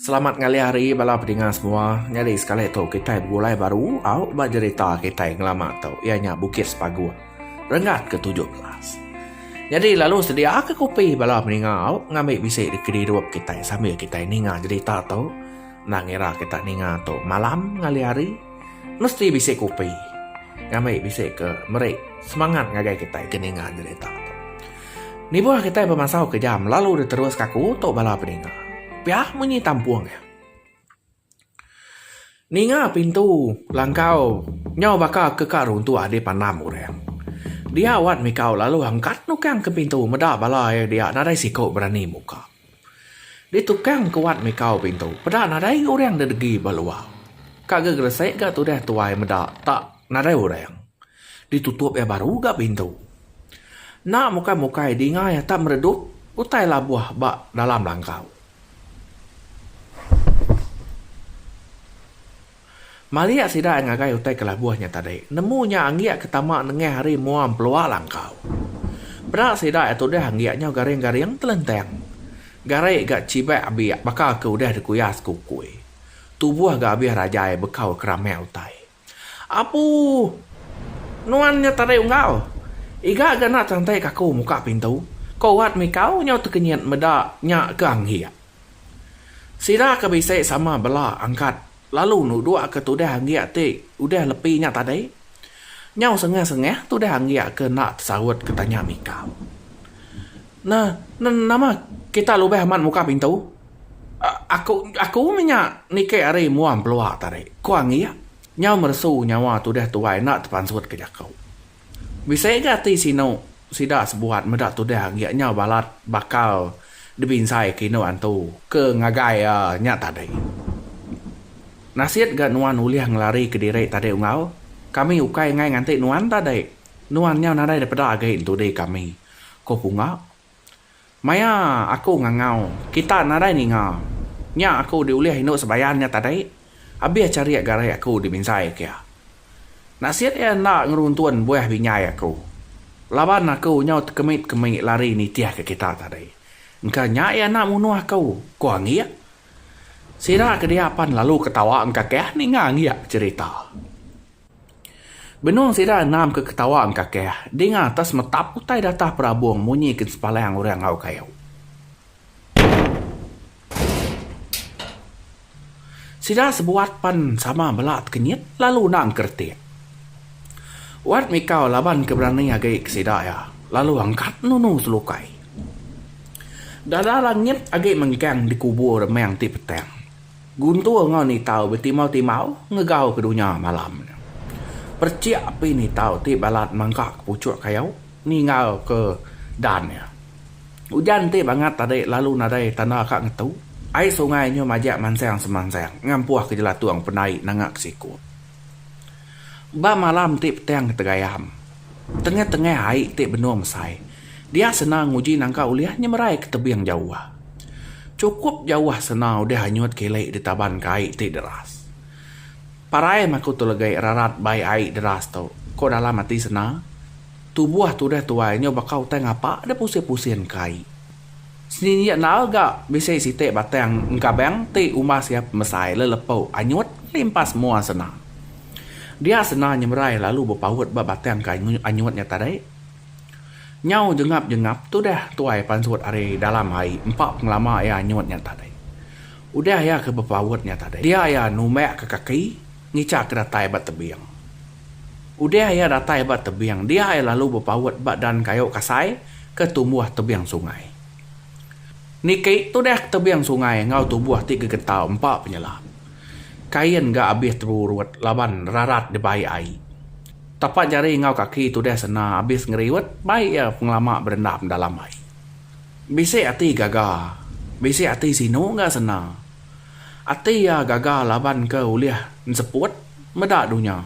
Selamat ngalih hari bala pedinga semua. Nyadi sekali tu kitai begulai baru aut ba jerita kitai ngelama tu iya nya Bukit Sepaguh renggat ke tujuh belas. Nyadi lalu sedia ke kopi bala pedinga aut ngambi bisi di kedirup kitai sambil kitai ninga jerita tu. Enda ngira kita ninga tu malam ngalih hari mesti bisi kopi ngambi bisi ke meri semangat ngagai kitai ke ninga jerita tu. Nibuh kitai bemasau ke jam lalu diterus ka aku tu bala peninga. Pia munyi tampung iya. Ninga pintu langkau nyau baka ke ka runtuh adi pandam orang. Dia Wan mikau lalu angkat nukang ke pintu meda bala iya dia nadai siku berani muka. Ditukang ke wat mikau pintu. Peda nadai ga urang didegi ba luar. Ka ga gresik ga tudah tuai meda tak nadai urang. Ditutup iya baru ga pintu. Enda mukai-mukai dinga iya tak meredup utai labuh ba dalam langkau. Malik sida ai ngagai utai kelabuh nya tadi. Nemu nya anggik ke tama nengah hari mua empelua langkau. Peda sida ai tudah anggik nyau garing-garing telentang. Gari ga chibak abik baka ke udah dikuya sekukui. Tubuh ga abih rajai bekau keramak utai. Apu! Nuan nya tadi unggau. Iga ga enda cantik kaku muka pintu. Ko Wat mikau nyau tekenyit meda nya ke anggik. Sida ke bisi sama bela angkat lalu nuduk ke tudah anggiak ti udah lepi nya tadi. Nyau sengah-sengah tudah anggiak ke enda tesaut ke tanya mika. Na, na, nama kita lubah amat muka pintu? A, aku, aku mih nya niki ari mua empelua tadi, ku anggiak nyau meresu nyawa tudah tuai enda tepansut ke jaku. Bisi ga ti sinu sida sebuat meda tudah enggik nyau balat bakal dibinsai ke indu antu. Ke ngagai iya nya tadi. Nasit ga nuan ulih ngelari ke diri tadi unggau. Kami ukai angai nganti nuan tadi. Nuan nyau nadai dipeda agi entudi kami, ko Punga. Maya aku ngangau, kita nadai ninga. Nya aku diulih indu Sebayan nya tadi, abih charik garik aku dibinsai ke iya. Nasit iya enda ngeruntun buah binjai aku. Laban aku nyau tekemi-kemi lari nitih ke kita tadi. Engka nya iya enda munuh aku, ku Anggik. Sida ke dia pan lalu ketawa engkakah ninga Anggik becherita. Benung sida enam ke ketawa engkakih dinga atas metap utai datah perabung munyi ke sepalang orang enggau kayu. Sida sebuat pan sama bela tekenyit lalu endang ke retik. Wat mikau laban ke berani agi ke sida iya lalu angkat nunu selukai. Dada langit agi mengkang dikubur meng ti petang. Guntur enggau Nitau betimau-timau ngegau ke dunya malam nya. Perchik api Nitau ti balat mangka ke puchuk kayu ninggal ke dan iya. Ujan ti bangat tadi lalu nadai tanda ka ngetu, ai sungai nyu majak mansang-semansang ngampuh ke jelatung pendai nanga ke siku. Ba malam ti petang ke tegayam, tengah-tengah ai ti benung mesai, dia Sena nguji nangka ulih nyemerai ke tebing jauh. Chukup jauh Sena udah anyut kili ditaban ke ai ti deras. Parai maku tu legi rarat bai ai deras tu, ko dalam ati Sena. Tubuh tu udah tuai nyau baka utai ngapa deh pusing-pusing ke ai. Sni iya enal ga bisi siti batang engkabang ti umbas iya pemesai lelepu anyut limpas mua sena. Dia sena nyemerai lalu bepaut ba batang ke anyut nya tadi. Nyau jengap jengap tudah tuai pansut ari dalam ai empa pengelama iya anyut nya tadi. Udah iya ke bepaut nya tadi dia iya numbak ke kaki ngichak ke datai ba tebing. Udah iya datai ba tebing dia iya lalu bepaut ba dan kayu kasai ke tumbuh tebing sungai. Niki tudah ke tebing sungai enggau tumbuh ti gegetau empa penyelap. Kain ga abis terurut laban rarat dibai ai. Tapak jari enggau kaki tudah sena abis ngeriut bai iya pengelama berendam dalam ai. Bisi ati gaga, bisi ati sinu ga sena. Ati iya gaga laban ke ulih enseput meda dunya.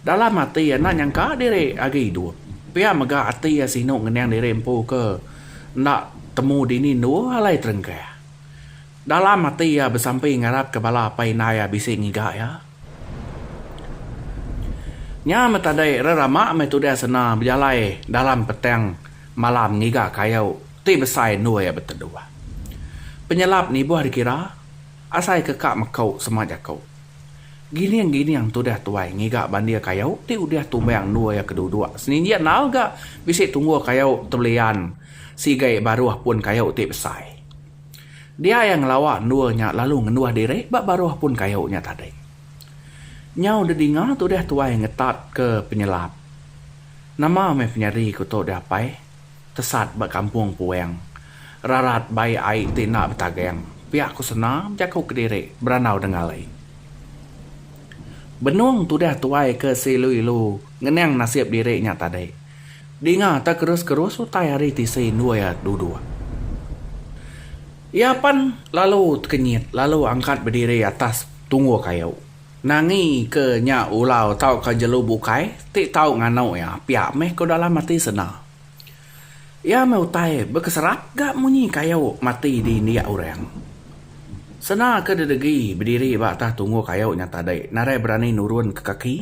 Dalam ati iya enda nyangka diri agi idup. Pia mega ati iya sinu ngening diri empu ke enda temu dini endu alai terengkah. Dalam ati iya besampi ngarapka bala apai indai iya bisi ngiga iya. Nya meh tadi rerama meh tudah sena bejalai dalam petang malam ngiga kayu Ti besai endur iya beteduh. Penyelap nibuh dikira, asai ke ka meku sema jaku. Gining-gining tudah tuai ngiga bandir kayu ti udah tumbang endur iya ke duduk seninjit enal ga bisi tunggul kayu tebelian sigai baruh pun kayu ti besai. Dia iya ngelawa endur nya lalu ngenduh diri ba baruh pun kayu nya tadi. Nyau dedinga tudah tuai ngetat ke penyelap. Nama meh penyadi ku tu deh apai. Tesat ba kampung Puang. Rarat bai ai ti enda betagang. Pia ku Sena bejaku kediri berandau dengal ai. Benung tudah tuai ke seilu-ilu ngenang nasib diri nya tadi. Dinga tekerus-kerus utai ari tisi endur iya duduk. Iya pan lalu tekenyit lalu angkat bediri atas tungu kayu. Nangi ke nya ulau tauka jelu bukai ti tau nganu iya pia meh ko dalam ati sena. Iya meh utai bekeserap ga munyi kayu mati di indik orang. Sena ke didegi bediri ba atas tunggu kayu nya tadi nadai berani nurun ke kaki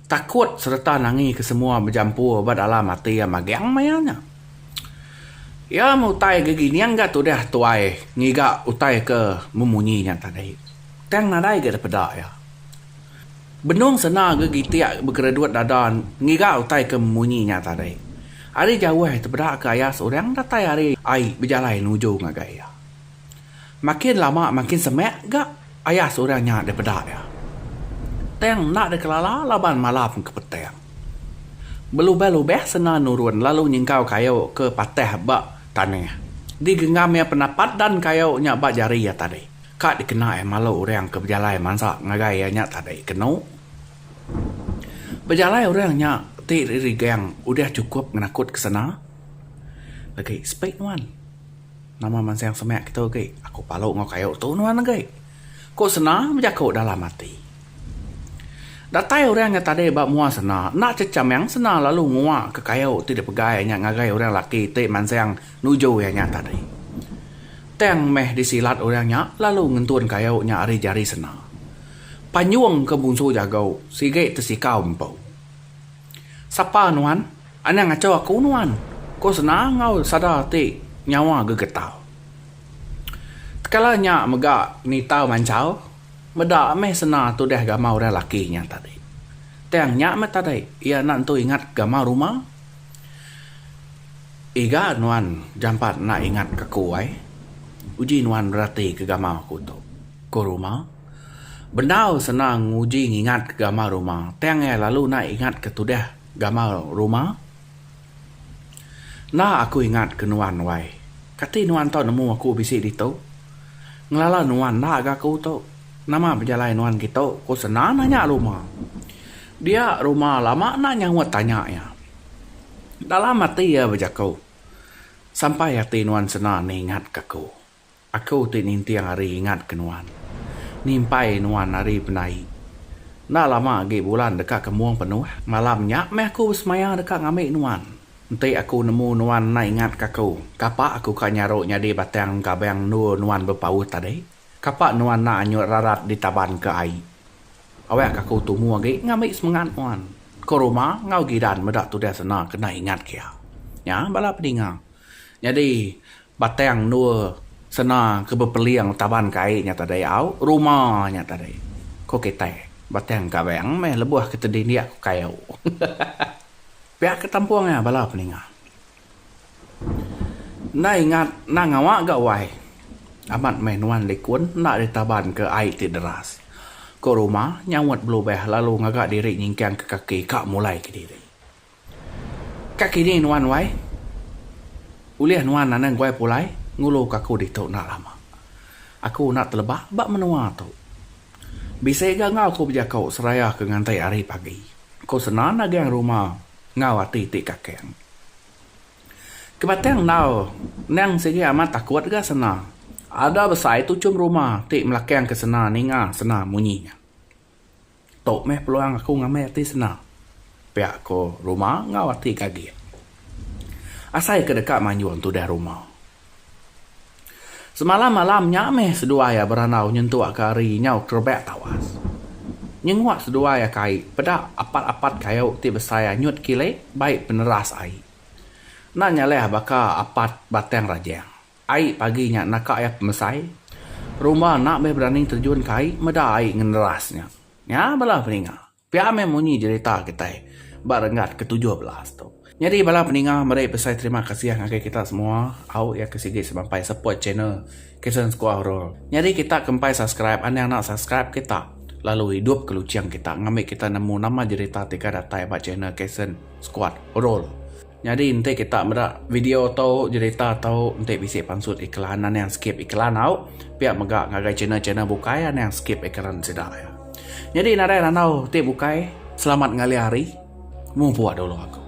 takut sereta nangi ke semua bejampur ba dalam ati iya magang maya nya. Iya meh utai gegining ga tudah tuai ngiga utai ke memunyi nya tadi. Tang nadai ga dipeda iya. Benung sena ga gitik begeredut dada ngiga utai ke munyi nya tadi. Ari jauh tepeda ke aya seorang datai ari ai bejalai nuju ngagai iya. Makin lama makin semak ga aya seorang nya dipeda iya. Tang enda dikelala laban malam ke petang. Belubah-lubah sena nurun lalu nyengkau kayu ke patah ba tanah. Digenggam iya penapat dan kayu nya ba jari iya tadi. Ka dikena iya malu orang ke bejalai mansa ngagai iya nya tadi kenu. Bejalai orang nya ti rigang udah chukup ngenakut ke sena. Agi sepi nuan. Nama mansang semak kitu agi. Aku palu enggau kayu tu nuan agi. Ku sena bejaku dalam ati. Datai orang nya tadi ba mua sena, enda checham yang sena lalu nguak ke kayu ti dipegai iya nya ngagai orang laki ti mansang Nuju iya nya tadi. Tang meh disilat orang nya lalu ngentun kayu nya ari jari sena. Panjung ke munsu jagu sigi tesikau empu. Sapa nuan? Anang acho aku nuan, ko sena enggau sada ti nyawa gegetau. Tekala nya mega nitau manchau meda meh sena tudah gamal orang laki nya tadi. Tang nya meh tadi iya enda nentu ingat gamal rumah. Ega nuan jampat enda ingat ke aku ai? Uji nuan berati ke gamar aku tu. Ko Ruma. Bendar senang uji ngingat ke gamar Ruma tang iya lalu enda ingat ke tudah gamar Ruma. Enda aku ingat ke nuan wai. Kati nuan tau nemu aku bisi ditu? Ngelala nuan enda ga aku tu. Nama pejalai nuan kitu? Ko Sena nanya Ruma. Dia Ruma lama enda nyaut tanya iya. Dalam ati iya bejaku, Sampai ati nuan sena ni ingatka aku. Aku ti ninting ari ingatka nuan. Nimpai nuan ari penai. Enda lama agi bulan deka kembung penuh. Malam nya meh aku besemaya deka ngambi nuan. Enti aku nemu nuan enda ingatka aku, kapa aku ka nyaru nyadi batang engkabang endur nuan bepaut tadi? Kapa nuan enda anyut rarat ditabanka ai? Awek ka aku tumu agi ngambi semengat nuan ko ruma enggau gidan meda tudah sena kena ingat kia. Nya bala pedinga. Nyadi batang endur sena ke bepeling taban kai nya tadi au ruma nya tadi ko kitai batang kavang meh lebuh kita dindik ko kayu. Pia ke tampung ia bala pedinga. Enda ingat enda ngawa ga wai. Amat meh nuan likun enda ditaban ke ai ti deras. Ko Ruma nyaut belubeh lalu ngaga diri nyingkang ke kaki ka mulai kediri. Ka kini nuan wai. Ulih nuan anang guai pulai ngulu ka aku ditu enda lama. Aku enda teleba ba menua tu. Bisi ga enggau aku bejako seraya ke nganti hari pagi. Ku Sena nagang ruma enggau ati ti kakang. Kebatang endau nang sigi amat takut ga Sena. Ada besai tuchum ruma ti melakang ke Sena ninga Sena munyi nya. Tu meh peluang aku ngambi ati Sena. Pia ko ruma enggau ati gagik. Asai ke deka manjung tudah ruma. Semalam malam nya meh seduai iya berandau nyentuk ke ari nyau kerebak tawas. Nyenguak seduai iya kai peda apat-apat kayu ti besai anyut kile bai peneras ai. Enda nyaleh baka apat batang rajang. Ai pagi nya naka iya pemesai, rumba enda meh berani terjun ke ai meda ai ngeneras nya. Nya bala peninga. Pia meh munyi jerita kitai ba renggat ke tujuh belas tu. Nyadi bala peninga meri besai terima kasih ngagai kita semua au iya ke sigi semampai support channel Kitchen Skuah Horor. Nyadi kita ke empai subscribe anang enda subscribe kita lalu idup ke luching kita ngambi kita nemu nama jerita ti ka datai ba channel Kitchen Skuah Horor. Nyadi enti kita meda video tu jerita tu enti bisi pansut iklan anang skip iklan au pia mega ngagai channel channel bukai anang skip iklan sida ya. Nyadi nadai randau ti bukai selamat ngalih hari mupuk dulu aku.